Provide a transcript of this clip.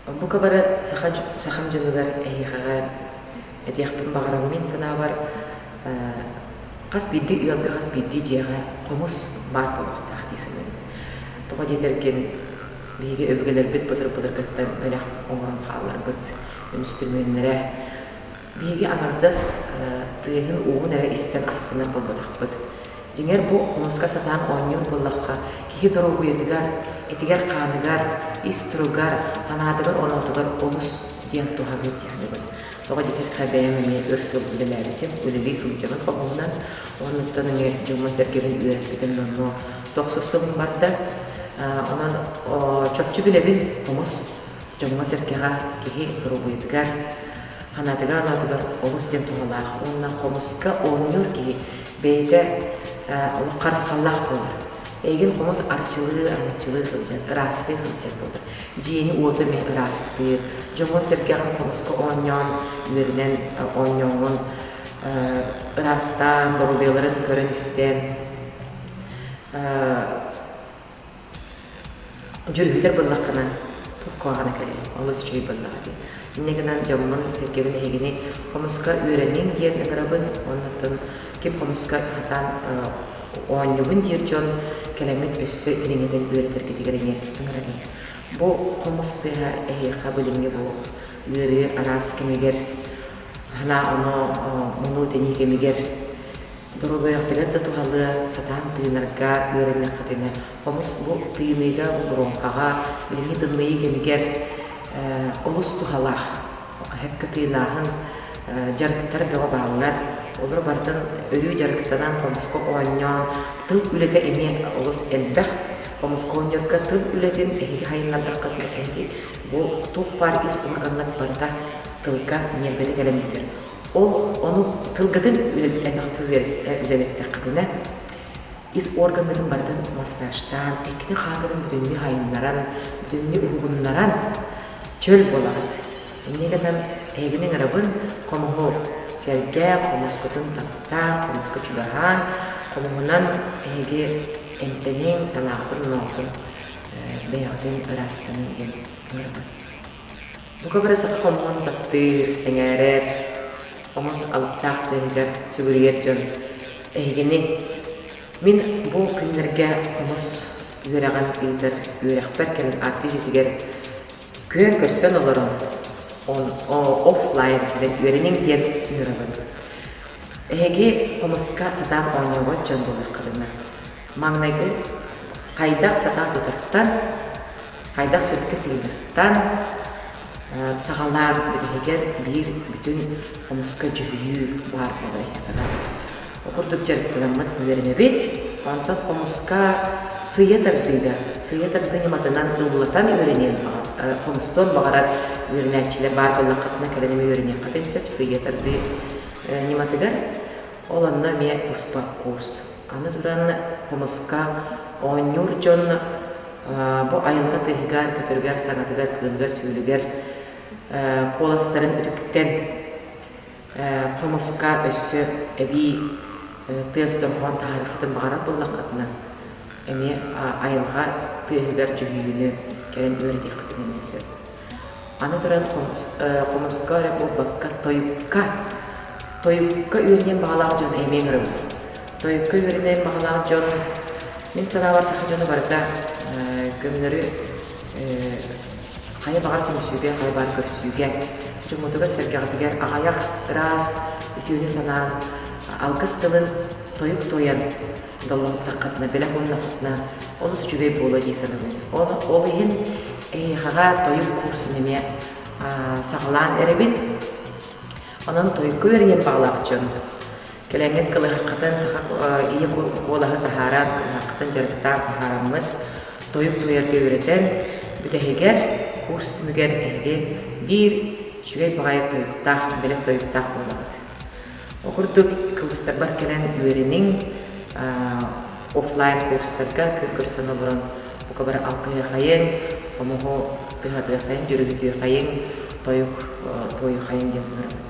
Оннука бары саха, сахам дьонугар эһиэхэҕэ этиэхпин баҕараммын санаабар хас биирдии ыалга хас биирдии дьиэҕэ хомус баар буолуохтаах дии саныыбын. Тоҕо диэтэргин биһиги өбүгэлэрбит былыр-былыргыттан бэлэх оҥорон хаалларбыт үҥсүтүмүөннэрэ Биһиги аҥардас тыаһын-ууһун эрэ истэн астынар буолбатахпыт. Дьиҥэр, бу хомуска сатаан оонньуур буоллахха, киһи доруобуйатыгар, этигэр-хааныгар, ис туругар, санаатыгар-оноотугар олус диэн туһалыыр дииллибит. Тоҕо диэтэххэ, бэйэм эмиэ өр сыл үлэлээбитим, үлэлии сылдьабын хоһуунан. Оннуктан эмиэ дьоҥҥо-сэргэбин үөрэппитим номнуо тохсус сылым барда. Онон чопчу билэбин, хомус дьоҥҥо-сэргэҕэ киһи доруобуйатыгар, санаатыгар-анаатыгар олус диэн туһалаах уонна хомуска оонньуур киһи бэйэтэ олох харысхаллаах буолар. Эйигин хомус арчылыы, аҥаччылыы сылдьар, ыраастыы сылдьар буолар. Дьиэни-уоту эмиэ ыраастыыр, дьоҥҥун-сэргэҕин хомуска оонньоон, үөрэнэн оонньооҥҥун ыраастаан, доруобуйаларын көрөн-истэн Дьөрбүтэр буллаххына куһаҕана кэлиэ, олус үчүгэй буоллаҕа дии. Инньэ гынан дьоммун, сэргэбин эһигини хомуска үөрэниҥ диэн ыҥырабын уонна оттон кип хомуска хатаан оонньуубун диир дьон кэлэҥҥит өссө кириҥэтэн үөрэтэргитигэр эмиэ ыҥырабын. Бу хомус тыаһа эһиэхэ билиҥҥи бу үөрүү араас кэмигэр, ханаа оноо мунуу тэнии кэмигэр Доруобайаҕытыгар да туһалыа, сатаан тыынарга, үөрэниэххитинэ. Хомус бу тыыныыга, бу боруоҥхаҕа, билиҥҥи-тымныйыы кэмигэр олус туһалаах. Эһэккэ тыынааһын, дьарыктар бөҕө бааллар. Олору барытын өрүү дьарыктанан, хомуска оонньоон, тыл үлэтэ эмиэ олус элбэх. Хомуска оонньуурга тыл үлэтин эһиги сайыннардаххытына, эһиги бу туох баар ис улаханнык барыта тылга, ньиэрбэтэ кэлэн бүтэр. Ол ону тылгытын үлэлэттэххитинэ ис органнарын барытын массажтаан, иккини хаатырын бүтүннүү хайыннаран, бүтүннүү уһугуннаран чөл буолаҕыт. Инньэ гынан эбин ыҥырабын хомуһу сэргээх, хомуспутун таптаан, хомуска чугаһаан, хомуһунан эһиги эмтэниҥ, санаахтын-оноотун бэйэҕитин ыраастаныҥ диэн ыҥырабын. Бука бары саха хомуһун таптыыр, сэҥээрэр, хомус алыптаах тыаһыгар сүгүрүйэр дьон эһигини мин бу күннэргэ хомус үөрэҕин ыытар үөрэхпэр кэлэн Арчы дьиэтигэр күөн көрсөн олорон офлайн кэлэн үөрэниҥ диэн ыҥырабын. Эһиги хомуска сатаан оонньообот дьон буолуоххутуна. Маҥнайгы хайдах сатаан тутартан хайдах сөпкө тыынартан саҕалаан бириһигэр биир бүтүн хомуска дьүһүйүү баар буолар ол курдук дьарыктанаммыт үөрэнэбит онтон хомуска сыыйа тардыыга сыыйа тардыы ньыматынан ыллатан үөрэниэн хомустуон баҕарар үөрэнээччилэр баар буоллаххытына кэлэн эмэ үөрэниэххитин сөп сыыйа тардыы ньыматыгар Ол онно эмиэ туспа куурс. Аны туран, хомуска оонньуур дьон бу айылҕа тыаһыгар-көтөрүгэр-саҥатыгар, кыылыгар-сүөлүгэр куоластарын үтүктэн, хомуска өссө эбии тыас дорҕоон таһаарыахтын баҕарар буоллаххытына, эмиэ айылҕа тыаһыгар дьүһүйүүнү кэлэн үөрэтиэххитин эмиэ сөп. Аны туран хомус, хомуска эрэ буолбакка, тойукка, тойукка үөрэниэн баҕалаах дьон эмиэ көрөбүн. Тойукка үөрэнэр баҕалаах дьон, мин санаабар саха дьоно барыта көҥүллэри хайа баҕар түмсүүгэ, хайа баҕар көрсүүгэ, дьоммутугар-сэргэҕитигэр аҕыйах, ыраас үтүөнү санаан, алгыс тылын тойук туойан даллаһыттаххытына, телефоннаххытына олус үчүгэй буолуо дии санабыт. Ол, ол иһин эһиэхэҕэ тойук курсун эмиэ саҕалаан эрэбин. Онон тойукку үөрүйэн баҕалаах дьон, кэлэҥҥит кылыһаххытын, саха ийэ куолаһы таһааран, кылыһаххытын дьарыктаан таһаараммыт, тойук туойарга үөрэтэн, бүтэһигэр, курс түмүгэр эһиги биир үчүгэй баҕайы тойуктаах, бэлэх тойуктаах буолабыт. Курдук кыбыстарбар кэлэн үөрэниҥ, офлайн курстарга көрсөн олорон бука бары алгыһыахайыҥ, хомуһу тыһатыаххайыҥ, дьүрүбүтүөхайыҥ, тойук туойухайыҥ диэн ыҥырабын.